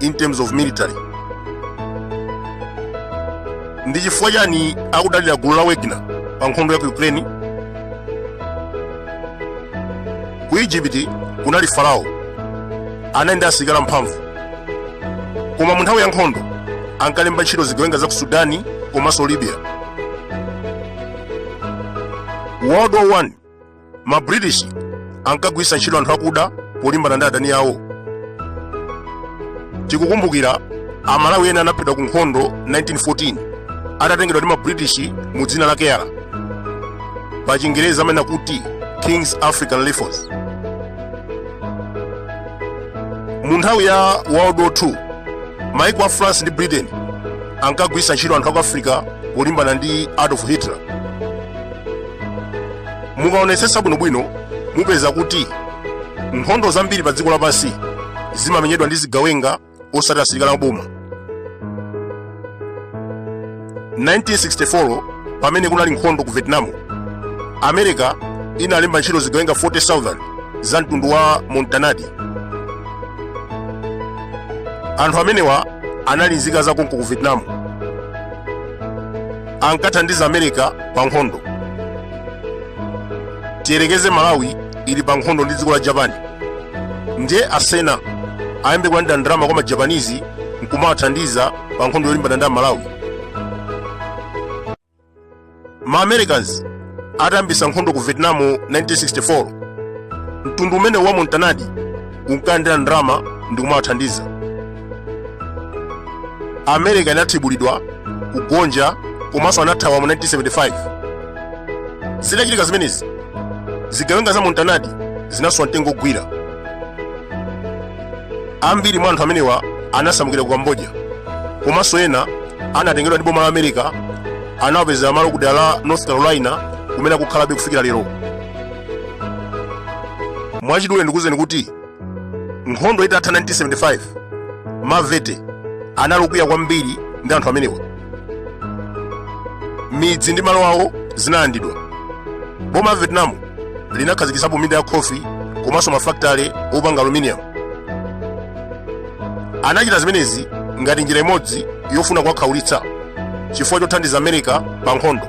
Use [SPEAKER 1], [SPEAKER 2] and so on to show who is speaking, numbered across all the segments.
[SPEAKER 1] in terms of military ndi chifukwa chani akudalira gulu la wagner pa nkhondo ya ku ukraine ku egypt kunali farao anali ndi asilikali amphamvu koma mu nthawi ya nkhondo ankalemba ntchito zigawenga za ku sudani komanso libya world war 1 ma british ankagwiritsa ntchito anthu akuda polimbana ndi adani awo tikukumbukira amalawi ena anaphedwa ku nkhondo 1914 atatengedwa ndi ma british mu dzina la keyala pa chingerezi amene akuti king's african rifles mu nthawi ya world war 2 maiko a france ndi britain ankagwiritsa ntchito anthu aku africa polimbana ndi adolf hitler mukaonetsetsa bwinobwino mupeza kuti nkhondo zambiri pa dziko lapansi zimamenyedwa ndi zigawenga osati asilikali aboma 1964 pamene kunali nkhondo ku vietnam america inalemba ntchito zigawenga 40000 za mtundu wa montanadi anthu amenewa anali nzika za konko ku vietnam ankathandiza america pa nkhondo tiyerekeze malawi ili pa nkhondo ndi dziko la japan ndiye asena ayambe kulandira ndalama kwa majapanizi nkumawathandiza pa nkhondo yolimbana ndi amalawi ma americans atayambisa nkhondo ku vietnam 1964 mtundu umenewu wa montanadi unkalandira ndalama ndi kumawathandiza america inathibulidwa kugonja komanso anathawa mu 1975 zitachitika zimenezi zigawenga za montanadi zinasowa mtengo ogwira ambiri mwa anthu amenewa anasamukira ku cambodia komanso ena anatengedwa ndi boma la america anawapezera malo ku dera la north carolina kumene akukhalabe kufikira lero mwachidule ndikuwuzeni kuti nkhondo itatha 1975 mavete anali okwiya kwambiri ndi anthu amenewa midzi ndi malo awo zinalandidwa boma la vietnam linakhazikitsapo minda ya khofi komanso mafakitale opanga aluminium anachita zimenezi ngati njira imodzi yofuna kuwakhaulitsa chifukwa chothandiza america pa nkhondo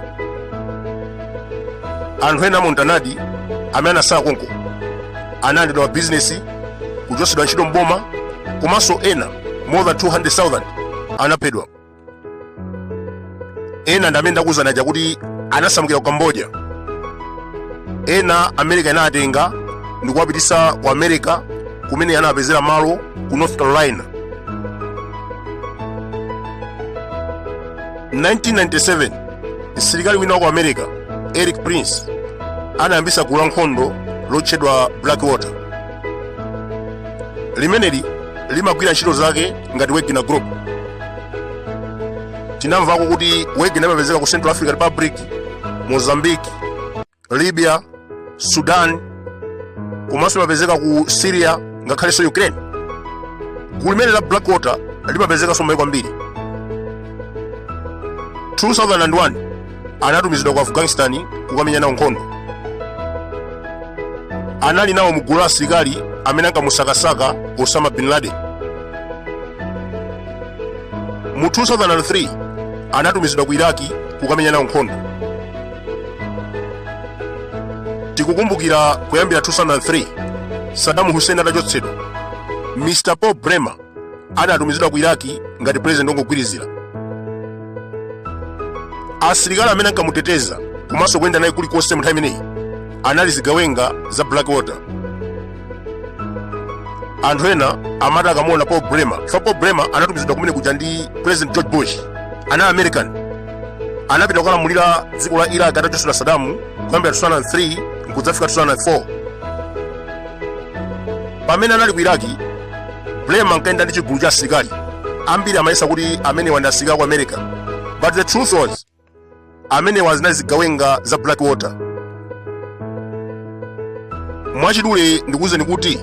[SPEAKER 1] anthu ena amontanadi amene anasala konko analandidwa mabizinesi kuchotsedwa ntchito mboma komanso ena more than 200,000 anaphedwa ena ndi amene ndakuwuzani aja kuti anasamukira ku cambodia ena america inawatenga ndi kuwapititsa ku america kumene anawapezera malo ku north carolina 1997 msilikali wina wa ku america erik prince anayambisa gulu la nkhondo lotchedwa blackwater limeneli limagwira ntchito zake ngati wagner group tinamvako kuti wagner imapezeka ku central african republic mozambique libya sudan komanso imapezeka ku syria ngakhalenso ukraine gulu limeneli la blackwater limapezekanso m'maiko ambiri 2001 anatumizidwa ku afghanistan kukamenya nawo nkhondo anali nawo mu gulu la asilikali amene ankamusakasaka osama bin laden mu 2003 anatumizidwa ku iraki kukamenya nawo nkhondo tikukumbukira kuyambira 2003 saddam hussein atachotsedwa mr paul bremer anatumizidwa ku iraki ngati pulezidenti wongogwirizira asilikali amene ankamuteteza komanso kuyenda naye kulikonse mu nthawi imeneyi anali zigawenga za blackwater anthu ena amati akamuona paul bremer chifukwa paul bremer anatumizidwa kumene kuja ndi president george bush anali american anapita kukalamulira dziko la iraq atachotsedwa saddam kuyambira 2003 nkudzafika 2004 pamene anali ku iraki bremer ankayenda ndi chigulu cha asilikali ambiri amayesa kuti amenewa ndi asilikali a ku america but the truth was amenewa zinali zigawenga za blackwater mwachidule ndikuwuzeni kuti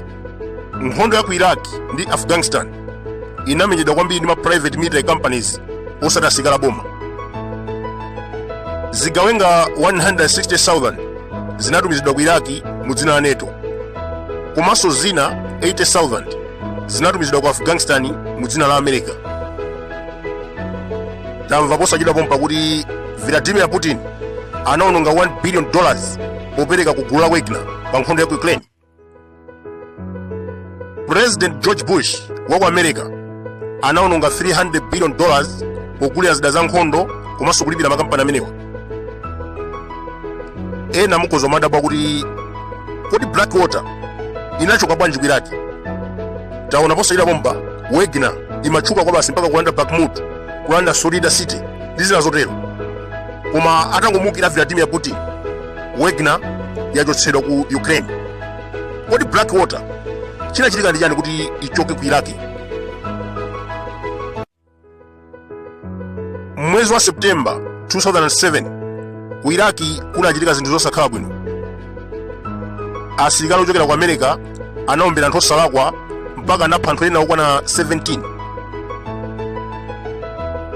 [SPEAKER 1] nkhondo ya ku iraq ndi afghanistan inamenyedwa kwambiri ndi ma private military companies osati asilikali a boma zigawenga 160,000 zinatumizidwa ku iraki mu dzina la nato komanso zina 80,000 zinatumizidwa ku afghanistan mu dzina la america tamva posachedwa pompa kuti vladimir putin anaononga 1 billion dollars popereka ku gulu la wagner pa nkhondo ya ku ukraine president george bush wa ku america anaononga 300 billion dollars pogulira zida za nkhondo komanso kulipira makampani amenewa ena mukhoza kumadabwa kuti kodi blackwater inachoka bwanji ku iraq taona posachedwa pompa wagner imatchuka kwabasi mpaka kulanda bakhmut kulanda soledar city ndi zina zotero koma atangomuukira vladimir putin wagner yachotsedwa ku ukraine kodi blackwater chinachitika ndi chani kuti ichoke ku iraq mwezi wa september 2007 ku iraq kunachitika zinthu zosakhala bwino asilikali ochokera ku america anaombera anthu osalakwa mpaka anapha anthu ena okwana 17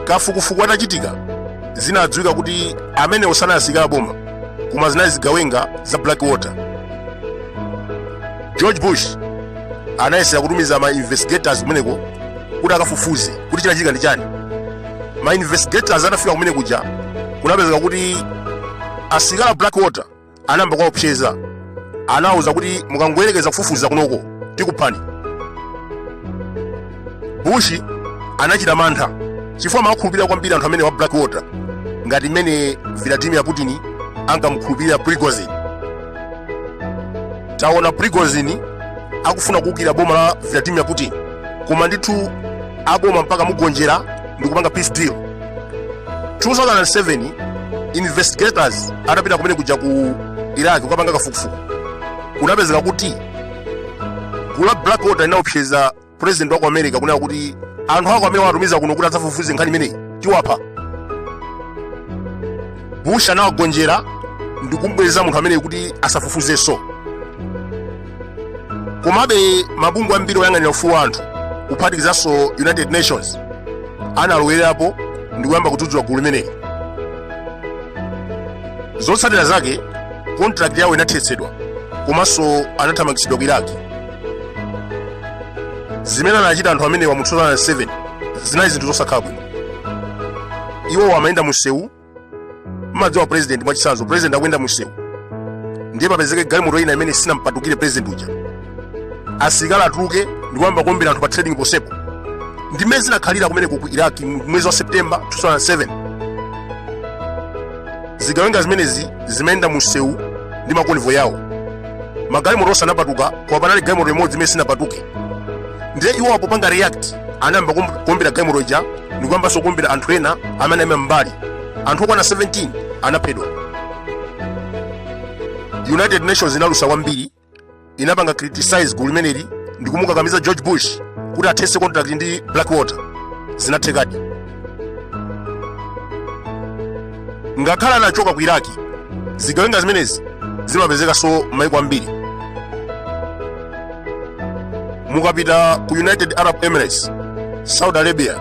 [SPEAKER 1] kafukufuku atachitika zinadziwika kuti amenewo sanali asilikali aboma koma zinali zigawenga za blackwater george bush anayesera kutumiza ma investigators kumeneko kuti akafufuze kuti chinachitika ndi chani ma investigators anafika kumene kuja kunapezeka kuti asilikali a blackwater anayamba kuwaopseza anawauza kuti mukangoyerekeza kufufuza kunoko tikuphani bush anachita mantha chifukwa amawakhulupirira kwambiri anthu amenewa a blackwater ngati mmene vladimir putin ankamukhulupirira prigozhin taona prigozhin akufuna kuukira boma la vladimir putin koma ndithu aboma mpaka kumugonjera ndi kupanga peace deal 2007 investigators atapita kumene kuja ku iraq kukapanga kafukufuku kunapezeka kuti gulu la blackwater linaopseza president wa ku america kunena kuti anthu ako amene watumiza kuno kuti adzafufuze nkhani imeneyi tiwapha bush anawagonjera ndikumbweza munthu ameneyi kuti asafufuzenso komabe mabungwe ambiri oyang'anira ufulu wa anthu kuphatikizanso united nations analowererapo ndi kuyamba kudzudzula gulu limeneli zotsatira zake contract yawo inathetsedwa komanso anathamangitsidwa ku iraq zimene anachita anthu amenewa mu 2007 zinali zinthu zosakhala bwino iwowo amayenda mu msewu mmadziwa president mwachitsanzo president akuyenda mumsewu ndiye papezeke galimoto ina imene sinampatukire president uja asilikali atuluke ndikuyamba kuombera anthu pa trading ponsepo ndi mmene zinakhalira kumeneko ku iraq mu- mwezi wa september 2007 zigawenga zimenezi zimayenda mumsewu ndi ma convoy yawo magalimoto onse anapatuka koma panali galimoto imodzi imene sinapatuke ndiye iwo popanga react anayamba kuom- kuombera galimoto ija ndikuyambanso kuombera anthu ena amene aima m'mbali anthu okwana 17 anaphedwa united nations inalusa kwambiri inapanga criticize gulu limeneli ndikumukakamiza george bush kuti athetse contract ndi blackwater zinathekadi ngakhale anachoka ku iraki zigawenga zimenezi zimapezekanso m'maiko ambiri mukapita ku united arab emirates saudi arabia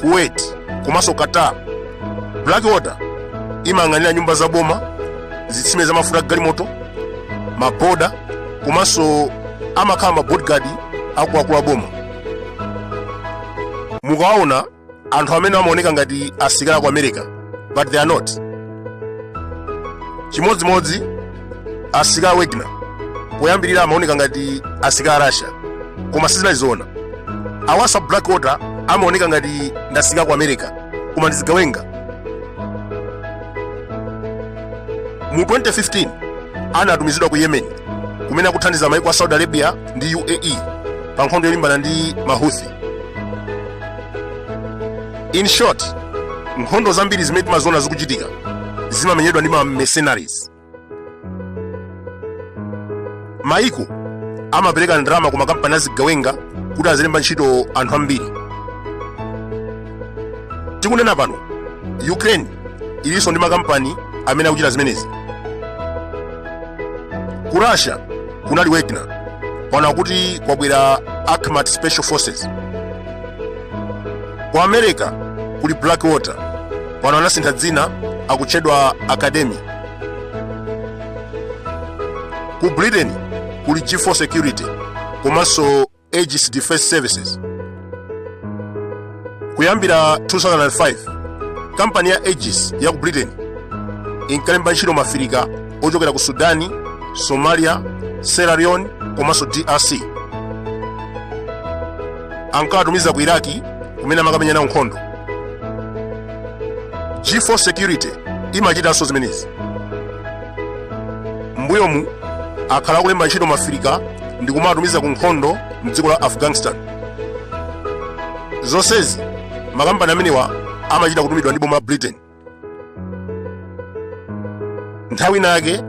[SPEAKER 1] kuwait komanso qatar blackwater imayang'anira nyumba za boma zitsime za mafuta galimoto maboda komanso amakhala mabodyguard akuluakulu a boma mukaona anthu amene amaoneka ngati asilikali a ku america but they are not chimodzimodzi asilikali a wagner poyambirira amaoneka ngati asilikali a russia koma sizinali zoona awasa blackwater amaoneka ngati ndi asilikali a ku america koma ndi zigawenga mu 2015 anatumizidwa ku yemen kumene akuthandiza maiko a saudi arabia ndi uae pa nkhondo yolimbana ndi mahuthi in short nkhondo zambiri zimene timaziona zikuchitika zimamenyedwa ndi ma mercenaries maiko amapereka ndalama ku makampani azigawenga kuti azilemba ntchito anthu ambiri tikunena pano ukraine ilinso ndi makampani amene akuchita zimenezi ku russia kunali wagner pano akuti kwabwera akhmat special forces ku america kuli blackwater pano anasintha dzina akutchedwa academi ku britain kuli g4 security komanso Aegis Defense Services. Kuyambira 2005, kampani ya Aegis ya ku Britain inkalemba ntchito ma Afirika ochokera ku Sudani, Somalia, Sierra Leone komanso DRC. Ankawatumiza ku Iraki kumene amakamenya nawo nkhondo. G4 Security imachitanso zimenezi. mbuyomu akhala akulemba ntchito ma afirika ndi kumawatumiza ku nkhondo mdziko la afghanistan zonsezi makampani amenewa amachita kutumidwa ndi boma la britain nthawi ina yake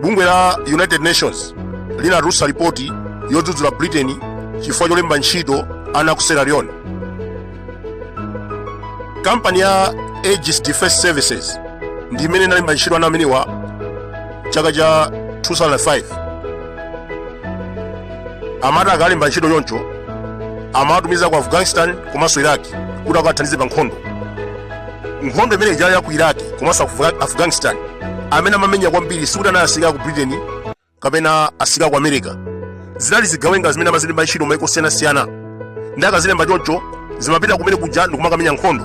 [SPEAKER 1] bungwe la united nations linatulutsa lipoti yodzudzula britain chifukwa cholemba ntchito ana ku sierra leone kampani ya aegis defense services ndi imene inalemba ntchito ana amenewa chaka cha 2005 amati akalemba ntchito choncho amawatumiza ku afghanistan komanso iraki kuti akathandize pa nkhondo nkhondo imene ija ya ku iraki komanso Afga- afghanistan amene amamenya kwambiri sikuti anali asilikali a ku britain kapena asilikali ku america zinali zigawenga zimene amazilemba ntchito maiko osiyanasiyana ndiye akazilemba choncho zimapita kumene kuja ndikumakamenya nkhondo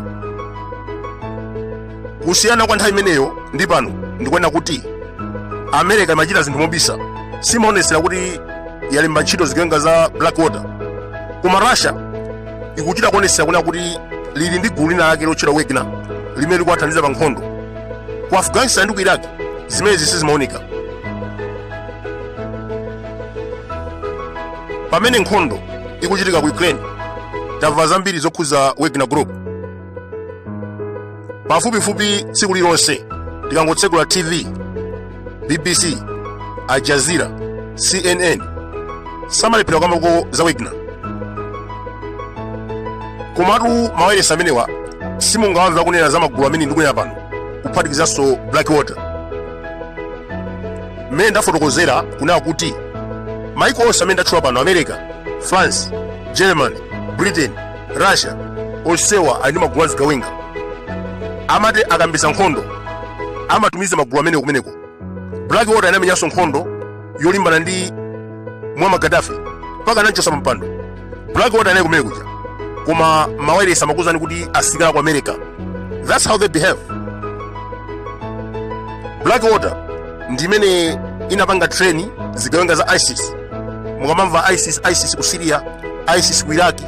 [SPEAKER 1] kusiyana kwa nthawi imeneyo ndi pano ndikuona kuti america imachita zinthu mobisa simaonetsera kuti yalemba ntchito zigawenga za blackwater koma russia ikuchita kuonetsera kunena kuti ili ndi gulu lina lake lotchedwa wagner limene likuwathandiza pa nkhondo ku afghanistan ndi ku iraq zimenezi sizimaoneka pamene nkhondo ikuchitika ku ukraine tamva zambiri zokhudza wagner group pafupifupi tsiku lilonse tikangotsegula tv bbc al jazeera cnn samalephera kukambako za wagner komatu mawayilesi amenewa simungawamve akunena za magulu amene ndikunena pano kuphatikizanso blackwater mmene ndafotokozera kunena kuti maiko onse amene ndatchula pano america france germany britain russia onsewa ali ndi magulu a zigawenga amati akayambitsa nkhondo amatumiza magulu amenewo kumeneko black water inamenyanso nkhondo yolimbana ndi muammar gaddafi mpaka anamchotsa pampando black water inali kumene kuja koma mawayilesi amakuuzani kuti asilikali ku america that's how they behave black water ndi imene inapanga treni zigawenga za isis mukamamva isis isis ku syria isis ku iraki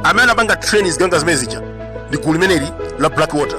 [SPEAKER 1] amene anapanga treni zigawenga zimene zija ndi gulu limeneli la black water